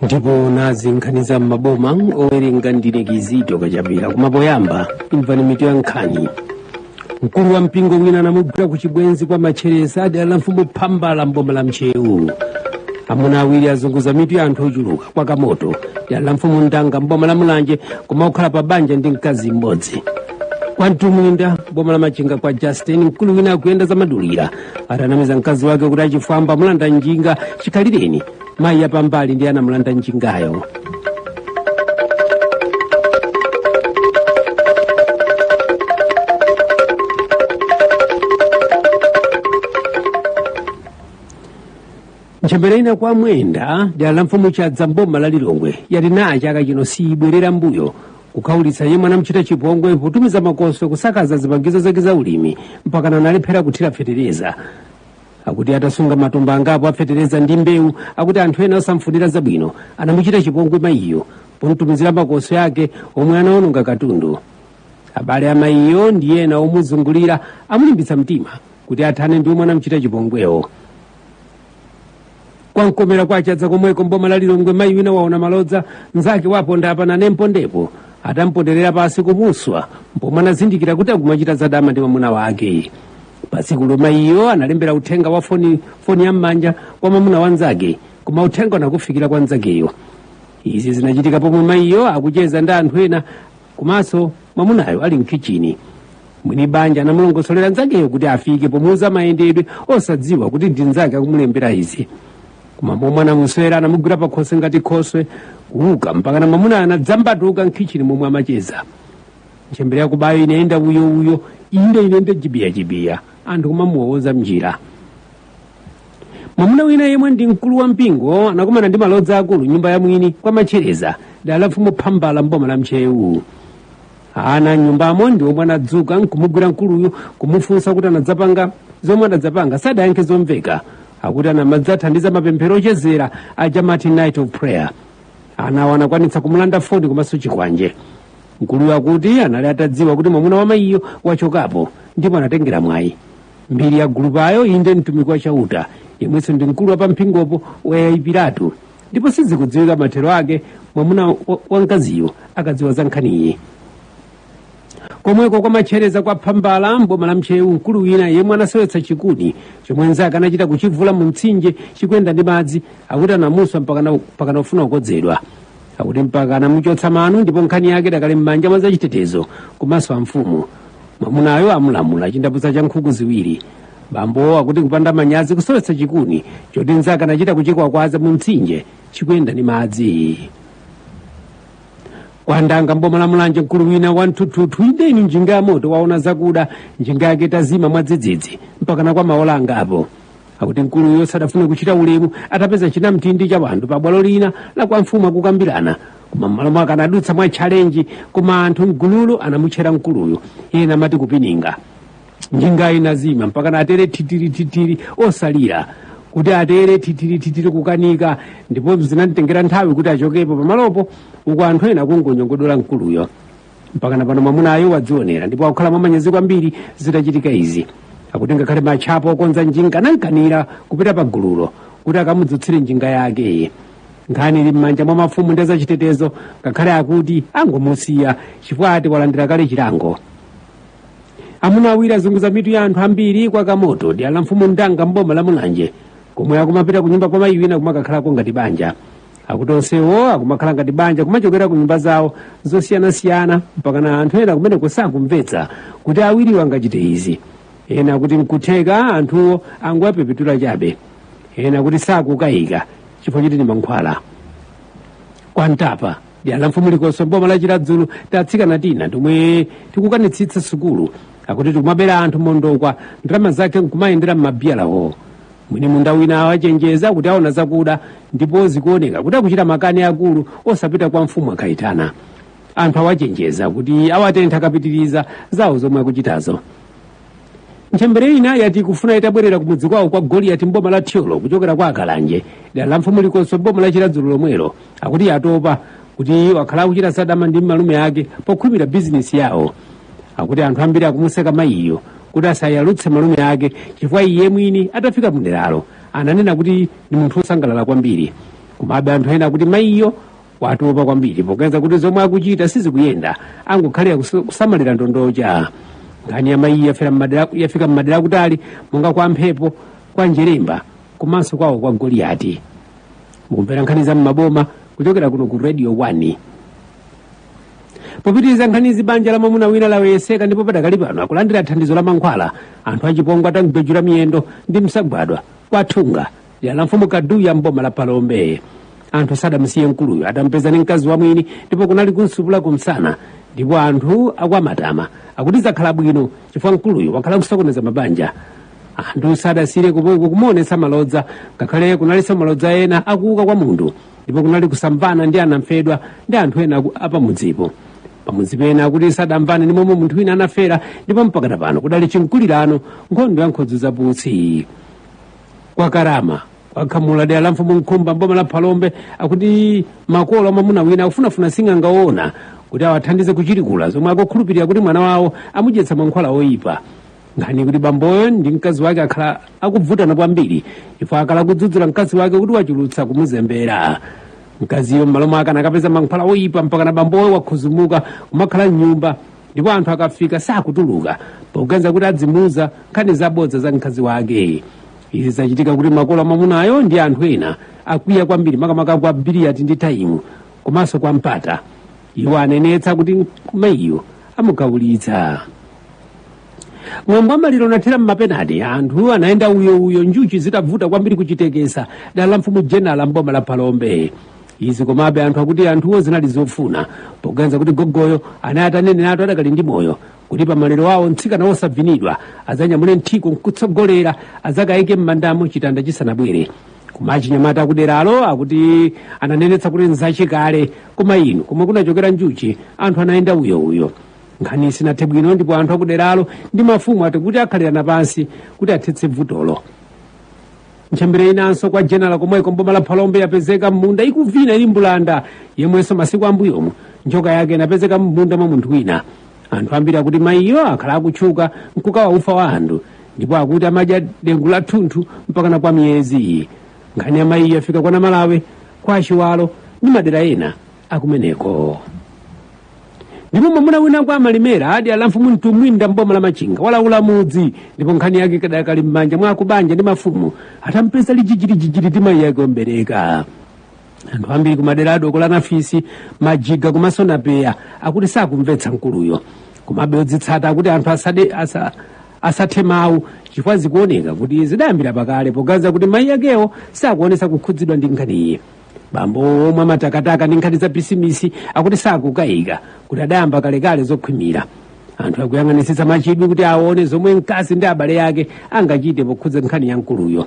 ndipo nazi nkhani za m'maboma owerenga ndine kizito kachapira koma poyamba imvani mitu ya nkhani mkulu wa mpingo wina anamugwira ku chibwenzi kwa matchereza dera la mfumu phambala mboma la ntcheu amuna awiri azunguza mitu ya anthu ochuluka kwa kamoto dera la mfumu ndanga mboma la mulanje pomakhala pa banja ndi mkazi mmodzi kwa mtumbwinda mboma la machinga kwa justin mkulu wina akuyenda zamadulira atanamiza mkazi wake kuti achifwamba amulanda njinga chikhalireni mayi yapambali ndiye anamulanda njingayo ntchembere ina kwa mwenda dera la mfumu chadza mboma la lilongwe yati naye chaka chino siyibwerera mbuyo kukhaulitsa yemwe anamchita chipongwe potumiza makoswe kusakaza zipangizo zake za ulimi mpakana analephera kuthira fetereza akuti atasunga matumba angapo afetereza ndi mbewu akuti anthu ena osamfunira zabwino anamuchita chipongwe mayiyo pomtumizira makoswe ake omwe anaononga katundu abale a mayiyo ndi ena omuzungulira amulimbitsa mtima kuti athane ndi omwe anamuchita chipongwewo kwa mkomera kwa chadza komweko mboma la lilongwe mayi wina waona malodza mnzake wa ponda apa nane mpondepo atamponderera pansi kumuswa pomwe anazindikira kuti akumachita zadama ndi mwamuna wake patsikulo mayiyo analembera uthenga wa foni, foni ya m'manja kwa mwamuna wa nzake koma uthenga unakafikira kwa nzakeyo izi zinachitika pomwe mayiyo akucheza ndi anthu ena komanso mwamunayo ali mkhichini mwini banja anamulongosolera nzakeyo kuti afike pomuuza mayendedwe osadziwa kuti ndi nzake akumulembera izi koma momwe anamuswera anamugwira pakhosi ngati khoswe kuuka mpakana mwamunayo anadzambatuka mkhichini momwe amacheza ntchembere yakubayo inayenda uyo uyo inde inende jibiyajibiya anthu kumamuwowoza mnjira mwamuna wina yemwe ndi mkulu wa mpingo anakumana ndi malodza akulu mnyumba ya mwini kwa matchereza dera la mfumu phambala mboma la ntcheu ana a mnyumbamo ndi omwe anadzuka nkumugwira mkuluyu kumufunsa kuti anadzapanga zomwe anadzapanga sadayankhe zomveka akuti anamadzathandiza mapemphero ochezera aja amati night of prayer anawo anakwanitsa kumulanda foni komanso chikwanje mkuluyu akuti anali atadziwa kuti mwamuna wa mayiyo wachokapo ndipo anatengera mwayi mbiri ya gulupayo inde mtumiki wa chauta yemwenso ndi mkulu wa pa mpingopo wayayipiratu ndipo sizikudziwika mathero ake mwamuna wa mkaziyo akadziwa za nkhaniyi komweko kwa matchereza kwa phambala mboma la ntcheu mkulu wina yemwe anasowetsa chikuni chomwe nzake anachita kuchivuula mu mtsinje chikuyenda ndi madzi akuti anamuswa mpakana kufuna kukodzedwa akuti mpaka anamuchotsa mano ndipo nkhani yake idakali m'manja mwa azachitetezo komanso amfumu mwamunayo amulamula chindapusa cha nkhuku ziwiri bambowo akuti kupanda manyazi kusowetsa chikuni choti nzake anachita kuchikwakwaza mu mtsinje chikuyenda ndi madzi kwa ndanga mboma la mulanje mkulu wina wa mthuthuthu inde inu njinga ya moto waona zakuda njinga yake itazima mwadzidzidzi mpakana kwa maola angapo akuti mkuluyo sadafuna kuchita ulemu atapeza chinamtindi cha wanthu pa bwalo lina la kwa mfumu akukambirana koma m'malo mwake anadutsa mwa tchalenji koma anthu mgululo anamutchera mkuluyo ena amati kupininga njinga inazima mpakana atere titirititiri osalira kuti atere titirititiri kukanika ndipo zinamtengera nthawi kuti achokepo pamalopo uku anthu ena akungonyogodola mkuluyo mpakana pano mwamunayo wadzionera ndipo akukhala mwamanyazi kwambiri zitachitika izi akuti ngakhale matchapo okonza njinga anamkanira kupita pa gululo kuti akamudzutsire njinga yakeyi nkhani ili m'manja mwa mafumu ndi azachitetezo ngakhale akuti angomusiya chifukwa ati walandira kale chilango amuna awiri azunguza mitu ya anthu ambiri kwa kamoto dera la mfumu ndanga mboma la mulanje komwe akumapita kunyumba kwa mayi wina kumakakhalako ngati banja akuti onsewo akumakhala ngati banja kumachokera ku nyumba zawo zosiyanasiyana mpakana anthu ena kumeneko sakumvetsa kuti awiriwo angachite izi ena akuti nkutheka anthuwo angowapepetula chabe ena akuti sakukayika chifukwa choti ndi mankhwala kwa ntapa dera la mfumu likoswe mboma la chiradzulu tatsikana tina tomwe tikukanitsitsa sukulu akuti tikumabera anthu mondokwa ndalama zake nkumayendera m'mabiyalawo mwini munda wina awachenjeza kuti aona zakuda ndipo zikuoneka kuti akuchita makani akulu osapita kwa mfumu akayitana anthu awachenjeza kuti awatentha akapitiriza zawo zomwe akuchitazo ntchembere ina yati ikufuna itabwerera kumudzi kwawo kwa goliyati mboma la thyolo kuchokera kwa kalanje dera la mfumu likoswe mboma la chiradzulu lomwelo akuti yatopa kuti wakhala akuchita zadama ndi malume ake pokhwimira bizinesi yawo akuti anthu ambiri akumuseka mayiyo kuti asayalutse malume ake chifukwa iye mwini atafika mu deralo ananena kuti ndi munthu wosangalala kwambiri komabe anthu ena akuti mayiyo watopa kwambiri popeza kuti zomwe akuchita sizikuyenda angokhalira kusamalira ndondocha nkhani ya mayiyo yafika m'madera akutali monga kwa mphepo kwa njeremba komanso kwawo kwa goliyati mukumvera nkhani za m'maboma kuchokera kuno ku radio 1 popitiriza nkhanizi banja la mwamuna wina laweyeseka ndipo padakali pano akulandira thandizo la mankhwala anthu achipongwe atamgwejula miyendo ndi msagwadwa kwa thunga dera la mfumu kaduya mboma la phalombe anthu sadamsiye mkuluyo atampeza ni mkazi wa mwini ndipo kunali kumsupula kumsana ndipo anthu akwa matama akuti zakhala bwino chifukwa mkuluyo wakhala akusokoneza mabanja anthu sadasiye kumukumuonetsa malodza ngakhale kunalinso malodza ena akuuka kwa munthu ndipo kunali kusamvana ndi anamfedwa ndi anthu ena aku- apamudzipo pamudzi pena akuti sadamvane ndi momwe munthu wina anafera ndipo mpakana pano kudali chimkulirano nkhondo ya nkhodzi zaputsi kwa karama kwa khamula dera la mfumu nkhumba mboma la phalombe akuti makolo amamuna wina akufunafuna sing'anga woona kuti awathandize kuchilikula zomwe akukhulupirira kuti mwana wawo amudyetsa mankhwala oyipa nkhani ikuti bamboyo ndi mkazi wake akhala akubvutana kwambiri chifukwa akhala akudzudzula mkazi wake kuti wachulutsa kumuzembera mkaziyo m'malo mwake anakapeza mankhwala oyipa mpakana bamboyo wakhuzumuka kumakhala mnyumba ndipo anthu akafika sakutuluka poganiza kuti adzimuuza nkhani zabodza za mkazi wake izi zachititsa kuti makolo amamunayo ndi anthu ena akwiya kwambiri makamaka kwa biliyati ndi taimu komanso kwa mpata iwo anenetsa kuti mayiyo amugawulitsa mwambo wa maliro unathera m'mapenati anthu anayenda uyouyo njuchi zitavuta kwambiri kuchitekesa dera la mfumu jenala mboma la phalombe izi komabe anthu akuti anthuwo zinali zofuna poganiza kuti gogoyo anali ataneneratu adakali ndi moyo kuti pamaliro awo mtsikana wosavinidwa adzanyamule nthiko nkutsogolera adzakayike m'mandamo chitanda chisanabwere koma achinyamata akuderalo akuti ananenetsa kuti nzachikale koma inu komwe kunachokera njuchi anthu anayenda uyouyo nkhani sinathe bwino ndipo anthu akuderalo ndi mafumu ati kuti akhalirana pansi kuti athetse vutolo ntchembere inanso kwa jenala komweko mboma la phalombe yapezeka m'munda ikuvina ili mbulanda yemwenso masiku ambuyomu njoka yake inapezeka m'munda mwa munthu wina anthu ambiri akuti mayiyo akhala akutchuka nkukawa ufa wa anthu ndipo akuti amadya dengu lathunthu mpakana kwa miyezi iyi nkhani ya mayiyo yafika kwa namalawe kwa chiwalo ndi madera ena akumeneko ndipo mwamuna wina kwa malimera dera la mfumu mtumwinda mboma la machinga walaula mudzi ndipo nkhani yake kadakali m'manja mwa akubanja ndi mafumu atampeza ali jijiliji ndi mayi ake omubereka anthu ambiri kumadera a dokola nafisi majiga komanso napeya akuti sakumvetsa mkuluyo komabe odzitsata akuti anthu asathe mawu chifukwa zikuoneka kuti zidayambira pakale poganiza kuti mayi akewo sakuonetsa kukhudzidwa ndi nkhaniyi bambo omwe amatakataka ndi nkhani za bizimisi akuti sakukayika kuti adayamba kalekale zokhwimira anthu akuyang'anitsitsa mwachidwi kuti aone zomwe mkazi ndi abale ake angachite pokhudza nkhani ya mkuluyo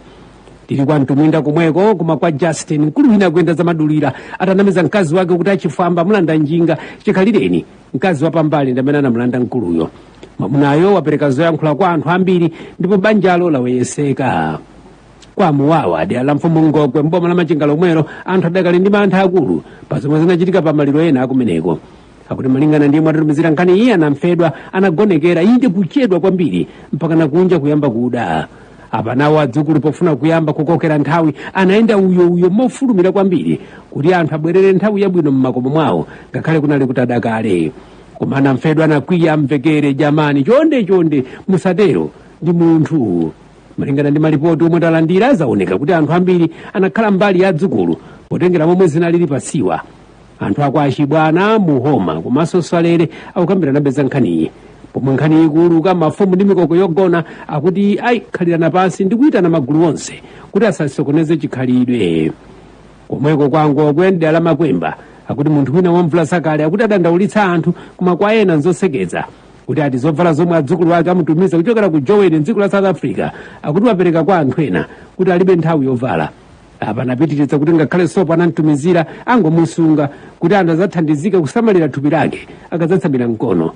tili kwa mtumbwinda komweko koma kwa justin mkulu wina akuyenda zamadulira atanamiza mkazi wake kuti achifwamba amulanda njinga chikhalireni mkazi wapambali ndi amene anamulanda mkuluyo mwamunayo wapereka zoyankhula kwa anthu ambiri ndipo banjalo laweyeseka kwa muwawa dera la mfumu ngokwe mboma la machinga lomwelo anthu adakali ndi mantha akulu pa zomwe zinachitika pa maliro ena akumeneko akuti malingana ndi yemwe atitumizira nkhaniyi anamfedwa anagonekera inde kuchedwa kwambiri mpakana kunja kuyamba kuda apa nawo adzukulu pofuna kuyamba kukokera nthawi anayenda uyo uyo mofulumira kwambiri kuti anthu abwerere nthawi yabwino m'makomo mwawo ngakhale kunali kutada kale koma anamfedwa anakwiya amvekere jamani chonde chonde musatero ndi munthu malingana ndi malipoti omwe talandira zaoneka kuti anthu ambiri anakhala mbali ya adzukulu potengera momwe zinalili pasiwa anthu akwa chibwana muhoma komanso swalere akukambiranabe za nkhaniyi pomwe nkhaniyi ikuuluka mafumu ndi mikoko yogona akuti ayikhalirana pansi ndi kuyitana magulu onse kuti asasokoneze chikhalidwe komweko kwa ngokwe dera la makwemba akuti munthu wina wamvula zakale akuti adandaulitsa anthu koma kwa ena nzosekeza kuti ati zovala zomwe adzukulu ake amutumiza kuchokera ku joweni mdziko la south africa akuti wapereka kwa anthu ena kuti alibe nthawi yovala apa anapitiriza kuti ngakhale sopo anamtumizira angomusunga kuti anthu adzathandizike kusamalira thupi lake akadzatsamira mkono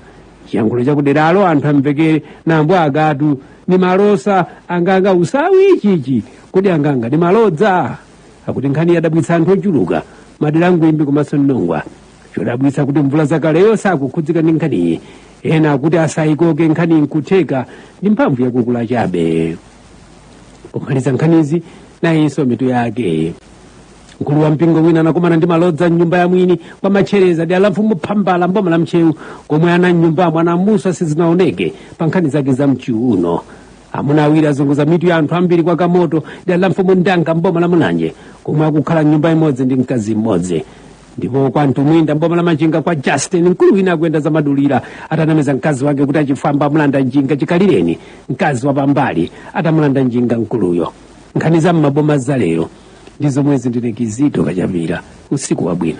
chiyankhulo chakuderalo anthu amvekere nambo akatu ni malosa anganga usawi ichichi kodi anganga ni malodza akuti nkhani yadabwitsa anthu ochuluka madera angwimbi komanso mnongwa chodabwitsa kuti mvula zakaleyo sakukhudzika ndi nkhaniyi ena akuti asayikoke nkhani nkutheka ndi mphamvu yakukula chabe pomaliza nkhanizi nayinso mitu yake mkulu wa mpingo wina anakumana ndi malodza mnyumba ya mwini kwa matchereza dera la mfumu phambala mboma la ntcheu komwe ana mnyumbamo anamuswa sizinaoneke pa nkhani zake za mchiuno amuna awiri azunguza mitu ya anthu ambiri kwa kamoto dera la mfumu ndanga mboma la mulanje komwe akukhala mnyumba imodzi ndi mkazi mmodzi ndipo kwa mtumbwinda mboma la machinga kwa justin mkulu wina akuyenda zamadulira atanamiza mkazi wake kuti achifwamba amulanda njinga chikhalireni mkazi wa pambali atamulanda njinga mkuluyo nkhani za mmaboma za lero ndi zomwezi ndine kizito kachapira usiku wabwino